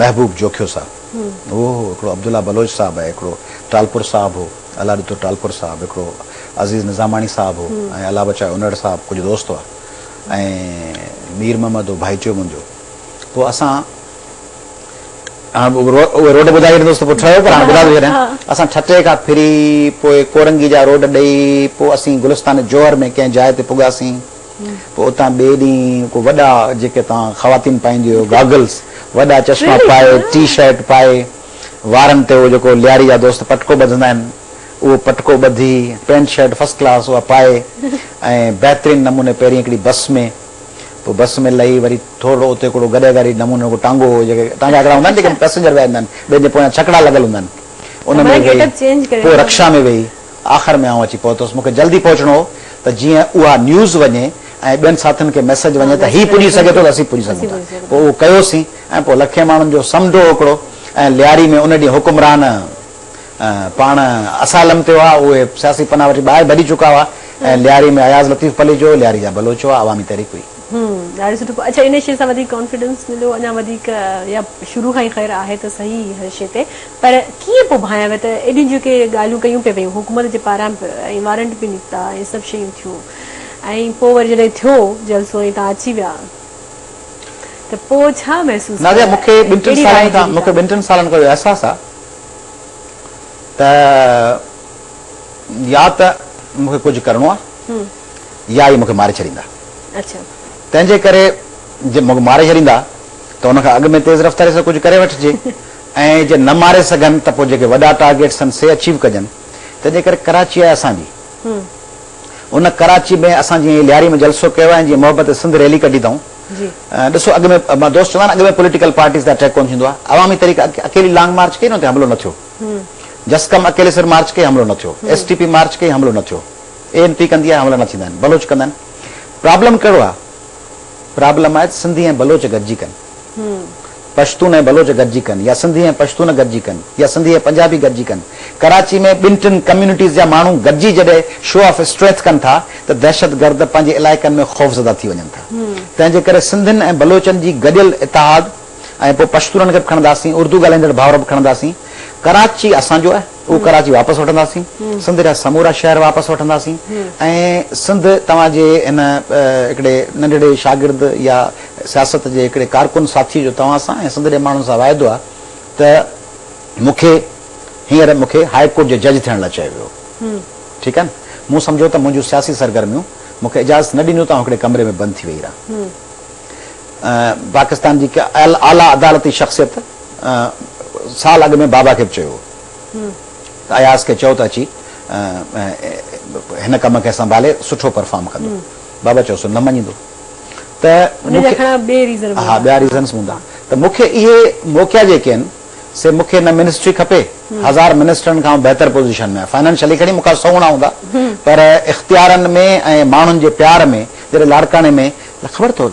محبوب جوکيو صاحب اهو هو هڪڙو عبدالله بلوچ صاحب آهي هڪڙو ٽالپر صاحب هو الله ڏتو ٽالپر صاحب هڪڙو عزيز نظاماڻي صاحب هو ۽ الله بچايو انڙ صاحب ڪجهه دوست هئا ۽ مير محمد هو ڀائيٽيو منهنجو پوء اسان اهي روڊ ٻڌائي ڇڏيندوس ته پوء ٺهيو پر هاڻي ٻڌائي ٿو ڇڏيان. اسان ٺٽي کان ڦري پوء ڪورنگي جا روڊ ڏئي پوء اسين گلستان جوهر ۾ ڪنهن جاء تي پڳاسين. پوء اتان ٻئي ڏينهن ڪو وڏا جيڪي توهان خواتين پائينديون هيو گاگلز، وڏا چشما پائي، ٽي شرٽ پائي، وارن تي اهو جيڪو لياري جا دوست پٽڪو ٻڌندا آهن اهو پٽڪو ٻڌي، پينٽ شرٽ فرسٽ ڪلاس اها پائي ۽ بهترين نموني پهرين هڪڙي بس ۾. پوء بس ۾ لهي وري ٿورڙو اتي هڪڙو گڏهه گاڏي نموني هڪڙو ٽانگو هو جيڪي ٽانگا هڪڙا هوندا آهن جيڪي ۾ پئسينجر ويا هوندا آهن ٻين جي پويان ڇڪڙا لڳل هوندا آهن ان ۾ ويهي پوء رڪشا ۾ ويهي آخر ۾ آئون اچي پهتس مون کي جلدي پهچڻو هو ته جيئن اها نيوز وڃي ۽ ٻين ساٿين کي ميسيج وڃي ته هي پڄي سگهي ٿو ته اسين پڄي سگهون ٿا پوء اهو ڪيوسين ۽ پوء لکين ماڻهن جو سمنڊو هڪڙو ۽ لياري ۾ ان ڏينهن حڪمران پاڻ اسائلم تي هئا، اهي سياسي پناهه وٺي ٻاهر ڀڄي چڪا هئا ۽ لياري ۾ اياز لطيف پليجو، لياري جا بلوچ هئا، عوامي تحريڪ هئي. هم ڏاڍي سٺو اڇا انهي شي سان وڌيڪ ڪانفيڊنس مليو اڃا وڌيڪ يا شروع کان ئي خير آهي ته سهي هر شي تي پر ڪيئن پوء ڀانئيا ويا ته ايڏيون جيڪي ڳالهيون ڪيون پي ويون حڪومت جي پاران به ۽ وارنٽ به نڪتا ۽ سڀ شيون ٿيون ۽ پوء وري جڏهن ٿيو جلسو ۽ توهان اچي ويا ته پوء ڇا محسوس ڪيو نازيه مون کي ٻن ٽن سالن کان مون کي ٻن ٽن سالن کان اهو احساس آهي ته يا ته مون کي ڪجهه ڪرڻو آهي يا اهي مون کي ماري ڇڏيندا. تنهن جي ڪري جي مون کي ماري ڇڏيندا ته ان کان اڳ ۾ تيز رفتاري سان ڪجهه ڪري وٺجي ۽ جي نه ماري سگهن ته پوء جيڪي وڏا ٽارگيٽس اٿن سي اچيو ڪجن. تنهن جي ڪري ڪراچي آهي اسان جي. ان ڪراچي ۾ اسان جيئن لياري ۾ جلسو ڪيو ۽ جيئن محبت سنڌ ريلي ڪڍي اٿئون. ڏسو اڳ ۾ ماهه دوست چوندا آهن اڳ ۾ پوليٽيڪل پارٽيز تي اٽيڪ ڪونه ٿيندو آهي عوامي طريقي اڪيلي لانگ مارچ ڪئي نه اتي حملو نه ٿيو جسقم اڪيلي سر مارچ ڪئي حملو نه ٿيو ايس ٽي پي مارچ ڪئي حملو نه ٿيو اي اين پي ڪندي آهي حملا نه ٿيندا آهن بلوچ ڪندا آهن پرابلم ڪهڙو آهي پرابلم آهي سنڌي ۽ بلوچ گڏجي ڪن پشتون ۽ بلوچ گڏجي ڪن يا سنڌي ۽ پشتون گڏجي ڪن يا سنڌي ۽ پنجابي گڏجي ڪن، ڪراچي ۾ ٻن ٽن ڪميونٽيز جا ماڻهو گڏجي جڏهن شو آف اسٽرينٿ ڪن ٿا ته دهشتگرد پنهنجي علائقن ۾ خوفزده ٿي وڃن ٿا. تنهن جي ڪري سنڌين ۽ بلوچن جي گڏيل اتحاد ۽ پوء پشتونن کي به کڻنداسين، اردو ڳالهائيندڙ ڀائر به کڻنداسين. ڪراچي اسان جو آهي، اهو ڪراچي واپس وٺنداسين. سنڌ جا سمورا شهر واپس وٺنداسين ۽ سنڌ توهان جي هن هڪڙي ننڍڙي شاگرد يا سياست جي هڪڙي ڪارڪن ساٿيء جو توهان سان ۽ سنڌڙي ماڻهن سان واعدو آهي ته مون کي هينئر مون کي هاء ڪورٽ جي جج ٿيڻ لاء چيو ويو ٺيڪ آهي نه مون سمجهيو ته منهنجون سياسي سرگرميون مون کي اجازت نه ڏينديون ته آئون هڪڙي ڪمري ۾ بند ٿي ويهي رهان پاڪستان جي اعليٰ عدالتي شخصيت سال اڳ ۾ بابا کي به چيو هو ته اياز کي چئو ته اچي هن ڪم کي سنڀالي سٺو پرفارم ڪندو بابا چيو سو نه مڃيندو. ته ان جا کڻا ٻئي ريزن به هوندا. ٻيا ريزنس هوندا ته مون کي اهي موقعا جيڪي آهن سي مون کي نه منسٽري کپي هزار منسٽرن کان آئون بهتر پوزيشن ۾ آهيان فائنانشلي کڻي مون کان سهوڻا هوندا پر اختيارن ۾ ۽ ماڻهن جي پيار ۾ جڏهن لاڙڪاڻي ۾ خبر اٿو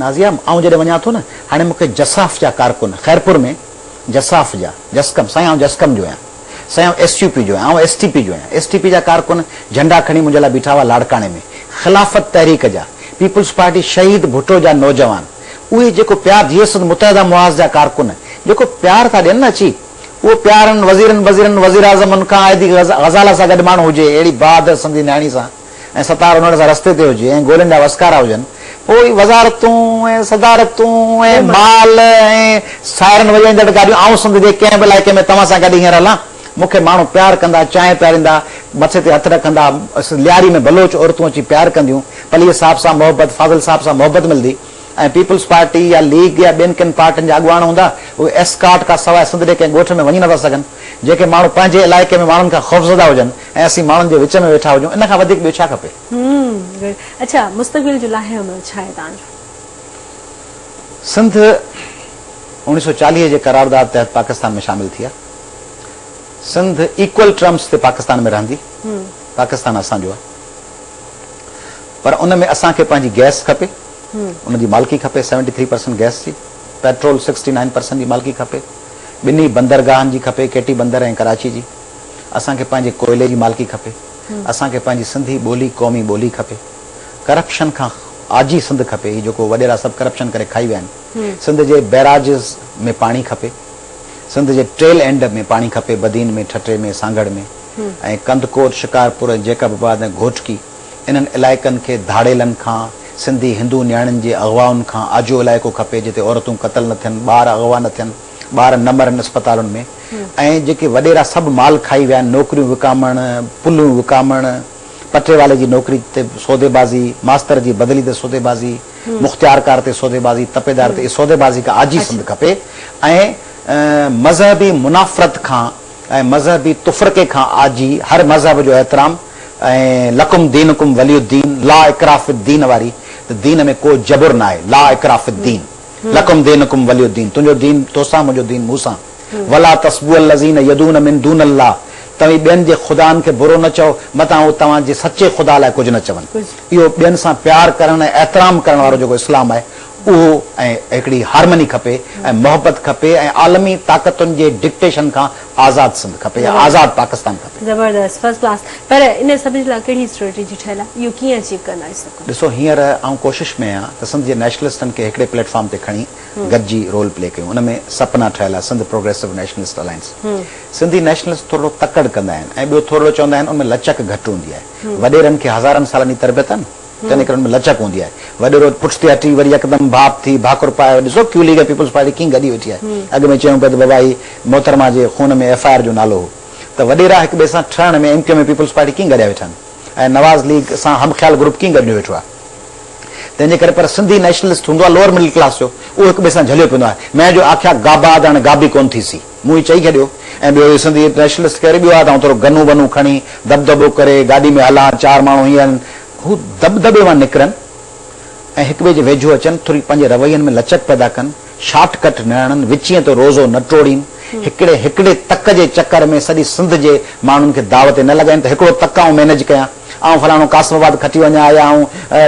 نازيه آئون جڏهن وڃان ٿو نه هاڻي مون کي جساف جا ڪارڪن خيرپور ۾ جساف جا جسقم سائين آئون جسقم جو آهيان. سائين آئون ايس يو پي جو آهيان آئون ايس ٽي پي جو آهيان ايس ٽي پي جا ڪارڪن جهنڊا کڻي منهنجي لاء بيٺا هئا لاڙڪاڻي ۾ خلافت تحريڪ جا پيپلز پارٽي شهيد ڀٽو جا نوجوان اهي جيڪو پيار ڌيء سنڌ متحده محاذ جا ڪارڪن جيڪو پيار ٿا ڏين نه اچي اهو پيار انهن وزيرن ٻزيرن وزيراعظمن کان عائدي غزاله سان گڏ ماڻهو هجي اهڙي بهادر سنڌي نياڻي سان ۽ ستار انڙ سان رستي تي هجي ۽ گولين ڏانهن وسڪارا هجن، پوء ئي وزارتون ۽ صدارتون ۽ مال ۽ سائرن وڄائيندڙ گاڏيون آئون سنڌ جي ڪنهن به علائقي ۾ توهان سان گڏ هينئر هلان، مون کي ماڻهو پيار ڪندا، چانهه پياريندا، مٿي تي هٿ رکندا، لياري ۾ بلوچ عورتون اچي پيار ڪنديون، پليء صاحب سان محبت، فاضل صاحب سان محبت ملدي ۽ پيپلز پارٽي يا ليگ يا ٻين ڪن پارٽين جا اڳواڻ هوندا، اهي ايسڪارٽ کان سواء سنڌ جي ڪنهن ڳوٺ ۾ وڃي نٿا سگهن، جنهن کي ماڻهو پنهنجي علائقي ۾ ماڻهن کان خوفزده هجن. ۽ اسين ماڻهن جي وچ ۾ ويٺا هجون ان کان وڌيڪ ٻيو ڇا کپي. همم اڇا مستقبل جو لاهي عمل ڇا آهي توهان جو؟ سنڌ اوڻيهه سؤ چاليهه جي قرارداد تحت پاڪستان ۾ شامل ٿي آهي سنڌ ايڪول ٽرمس تي پاڪستان ۾ رهندي پاڪستان اسان جو آهي پر ان ۾ اسان کي پنهنجي گئس کپي ان جي مالڪي کپي سيونٽي ٿري پرسنٽ گئس جي پيٽرول سڪسٽي نائن پرسنٽ جي مالڪي کپي ٻنهي بندرگاهن جي کپي ڪيٽي بندر ۽ ڪراچي جي اسان کي پنهنجي ڪوئلي جي مالڪي کپي، اسان کي پنهنجي سنڌي ٻولي قومي ٻولي کپي، ڪرپشن کان آجي سنڌ کپي، هي جيڪو وڏيرا سڀ ڪرپشن ڪري کائي ويا آهن، سنڌ جي بئراجز ۾ پاڻي کپي، سنڌ جي ٽيل اينڊ ۾ پاڻي کپي، بدين ۾ ٺٽي ۾ سانگهڙ ۾ ۽ ڪنڌڪوٽ، شڪارپور ۽ جيڪب آباد ۽ گهوٽڪي انهن علائقن کي ڌاڙيلن کان، سنڌي هندو نياڻين جي اغوائن کان آجو علائقو کپي جتي عورتون قتل نه ٿين، ٻار اغوا نه ٿين، ٻار نه مرن اسپتالن ۾ ۽ جيڪي وڏيرا سڀ مال کائي ويا آهن نوڪريون وڪامڻ پليون وڪامڻ پٽيوالي جي نوڪري تي سوديبازي ماستر جي بدلي تي سوديبازي مختيارڪار تي سوديبازي تپيدار تي اهي سوديبازي کان آجي سنڌ کپي ۽ مذهبي منافرت کان ۽ مذهبي تفرقي کان آجي هر مذهب جو احترام ۽ لڪم دينڪم ولي الدين لا اڪراه في الدين واري ته دين ۾ ڪو جبر ناهي لا اڪراه في الدين. لڪم دينڪم ولي الدين تنهنجو دين توسان منهنجو دين مون سان ولا تسبو الذين يدعون من دون الله توهين ٻين جي خدائن کي برو نه چئو متان هو توهان جي سچي خدا لاء ڪجهه نه چون اهو ٻين سان پيار ڪرڻ ۽ احترام ڪرڻ وارو جيڪو اسلام آهي اهو ۽ هڪڙي هارمني کپي ۽ محبت کپي ۽ عالمي طاقتن جي ڊڪٽيشن کان آزاد سنڌ کپي يا آزاد پاڪستان کپي. زبردست فرسٽ ڪلاس پر ان سڀ جي لاء ڪهڙي اسٽريٽجي ٺهيل آهي اهو ڪيئن اچيو ڪندا آهيو سڀ ڪجهه. ڏسو هينئر آئون ڪوشش ۾ آهيان ته سنڌ جي نيشنلسٽن کي هڪڙي پليٽ فارم تي کڻي گڏجي رول پلي ڪيون ان ۾ سپنا ٺهيل آهي Sindh progressive nationalist alliance Sindhi nationalist ٿورڙو تڪڙ ڪندا آهن ۽ ٻيو ٿورڙو چوندا آهن ان ۾ لچڪ گهٽ هوندي آهي وڏيرن کي هزارن سالن جي تربيت آهي نه ڪن نڪرن ۾ لچڪ هوندي آهي. وڏيرو پٺتي هٽي وري يڪدم ڀاپ ٿي ڀاڪر پائي ڏسو ڪيئن ليگ ۽ پيپلز پارٽي ڪيئن گڏي ويٺي آهي. اڳ ۾ چيون پيا ته بابا هي محترمه جي خون ۾ ايف آء آر جو نالو هو ته وڏيرا هڪ ٻئي سان ٺهڻ ۾ M Q M ۽ peoples party ڪيئن گڏيا ويٺا آهن ۽ نواز ليگ سان هم خيال گروپ ڪيئن گڏجو ويٺو آهي تنهن جي ڪري پر سنڌي نيشنلسٽ هوندو آهي لوئر مڊل ڪلاس جو اهو هڪ ٻئي سان جهليو پيندو آهي مين جو آکيا گابا آداڻ گابي ڪون ٿيسي. مون هي چئي ڇڏيو ۽ ٻيو هي سنڌي نيشنلسٽ ڪيري ٻيو آهي ته آئون ٿورو گنو ونو کڻي دٻدٻو ڪري گاڏي ۾ هلان چار ماڻهو هيئن آهن هو دٻدٻي مان نڪرن ۽ هڪ ٻئي جي ويجهو اچن ٿوري پنهنجي روين ۾ لچڪ پيدا ڪن شارٽ ڪٽ نه هڻن وچين تي روزو نه ٽوڙين هڪڙي هڪڙي تڪ جي چڪر ۾ سڄي سنڌ جي ماڻهن کي داء تي نه لڳائين ته هڪڙو تڪ آئون مينيج ڪيان آئون فلاڻو قاسم آباد کٽي وڃان يا آئون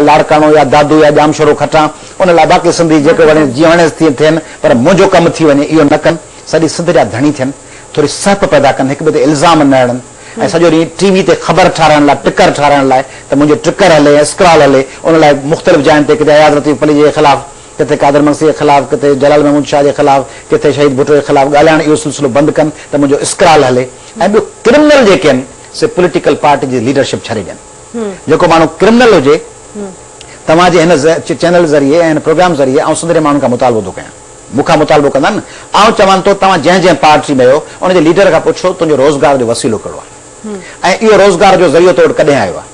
لاڙڪاڻو يا دادو يا ڄامشورو کٽان ان لاء باقي سنڌي جيڪو وڻيس جيئن وڻيس تيئن ٿين پر منهنجو ڪم ٿي وڃي اهو نه ڪن، سڄي سنڌ جا ڌڻي ٿين، ٿوري سهپ پيدا ڪن، هڪ ٻئي تي الزام نه هڻن ۽ سڄو ڏينهن ٽي وي تي خبر ٺارائڻ لاء ٽڪر ٺارائڻ لاء ته منهنجو ٽڪر هلي ۽ اسڪرال هلي ان لاء مختلف جاين تي ڪٿي اياز لطيف پليجي جي خلاف، ڪٿي قادر مگسي جي خلاف، ڪٿي جلال محمود شاهه جي خلاف، ڪٿي شهيد ڀٽو جي خلاف ڳالهائڻ اهو سلسلو بند ڪن ته منهنجو اسڪرال هلي ۽ ٻيو ڪرمنل جيڪي آهن سي پوليٽيڪل پارٽي جي ليڊرشپ ڇڏي ڏين. جيڪو ماڻهو ڪرمنل هجي توهان جي هن چينل ذريعي ۽ هن پروگرام ذريعي آئون سنڌ جي ماڻهن کان مطالبو ٿو ڪيان مون کان مطالبو ڪندا نه آئون چوان ٿو توهان جنهن جنهن پارٽي ۾ آهيو ان جي ليڊر کان پڇو تنهنجو روزگار جو وسيلو ڪهڙو آهي ۽ اهو روزگار جو ذريعو تو وٽ ڪڏهن آيو آهي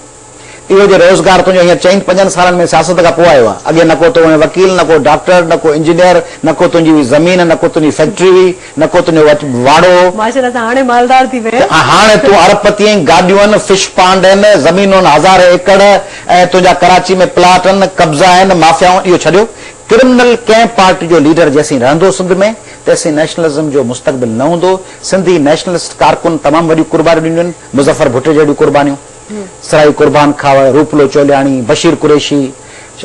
اهو جو روزگار تنهنجو هينئر چئن پنجن سالن ۾ سياست کان پوء آيو آهي اڳي نه ڪو تو هئين وڪيل نه ڪو ڊاڪٽر نه ڪو انجنيئر نه ڪو تنهنجي هئي زمين نه ڪو تنهنجي فيڪٽري هئي نه ڪو تنهنجو وچ واڙو هو. ماشاءالله تون هاڻي مالدار ٿي وئين. ته هاڻي تون ارب پتي آهين، گاڏيون، فش پانڊ آهن، زمينون هزارين ايڪڙ ۽ تنهنجا ڪراچي ۾ پلاٽ آهن، قبضا آهن، مافيائون اهو ڇڏيو ڪرمنل ڪنهن پارٽي جو ليڊر جيسين رهندو سنڌ ۾ تيسين نيشنلزم جو مستقبل نه هوندو، سنڌي نيشنلسٽ ڪارڪن تمام وڏيون قربانيون ڏنيون آهن، مظفر ڀٽو جهڙيون قربانيون، سرائي قربان کاوڙ، روپلو چولياڻي، بشير قريشي،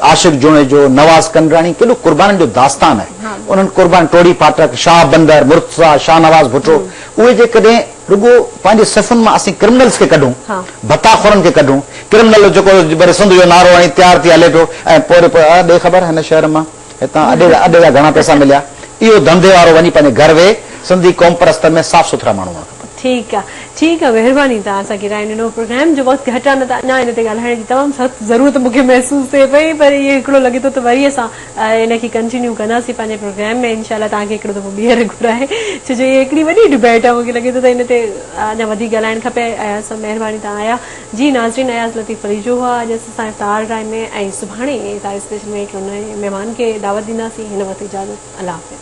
عاشق جوڻيجو، نواز ڪنڊراڻي ڪيڏو قربانن جو داستان آهي. انهن قربانن ٽوڙي پاٺڪ، شاهه بندر، مرتضيٰ، شاهنواز ڀٽو، اهي جيڪڏهن رڳو پنهنجي صفن مان اسين ڪرمنلز کي ڪڍون، ڀتا خورن کي ڪڍون، ڪرمنل جيڪو وري سنڌ جو نعرو هڻي تيار ٿي هلي پيو ۽ پوري ڏي خبر هن شهر مان. هتان اڏي جا اڏي جا گهڻا پئسا مليا اهو ڌنڌي وارو وڃي پنهنجي گهر ويهي سنڌي قوم پرستن ۾ صاف سٿرا ماڻهو هئڻ کپن. ٺيڪ آ ٺيڪ آ مهرباني توهان اسان کي راء ڏنو پروگرام جو وقت گهٽ آ نه ته اڃا ان تي ڳالهائڻ جي تمام سخت ضرورت مونکي محسوس ٿئي پئي پر اهو هڪڙو لڳي ٿو ته وري اسان ان کي ڪنٽينيو ڪنداسين پنهنجي پروگرام ۾ انشاء الله توهان کي هڪڙو دفعو ٻيهر گهرائي ڇو جو اهو هڪڙي وڏي ڊبيٽ آ مونکي لڳي ٿو ته ان تي اڃا وڌيڪ ڳالهائڻ کپي اياز صاحب مهرباني توهان آيا جي ناظرين اياز لطيف پليجو هئا اڄ اسين سان افطار ڊرائي ۾ ۽ سڀاڻي افطار اسپيشل ۾ هڪ نئين مهمان کي دعوت ڏينداسين هن وقت اجازت الله حافظ.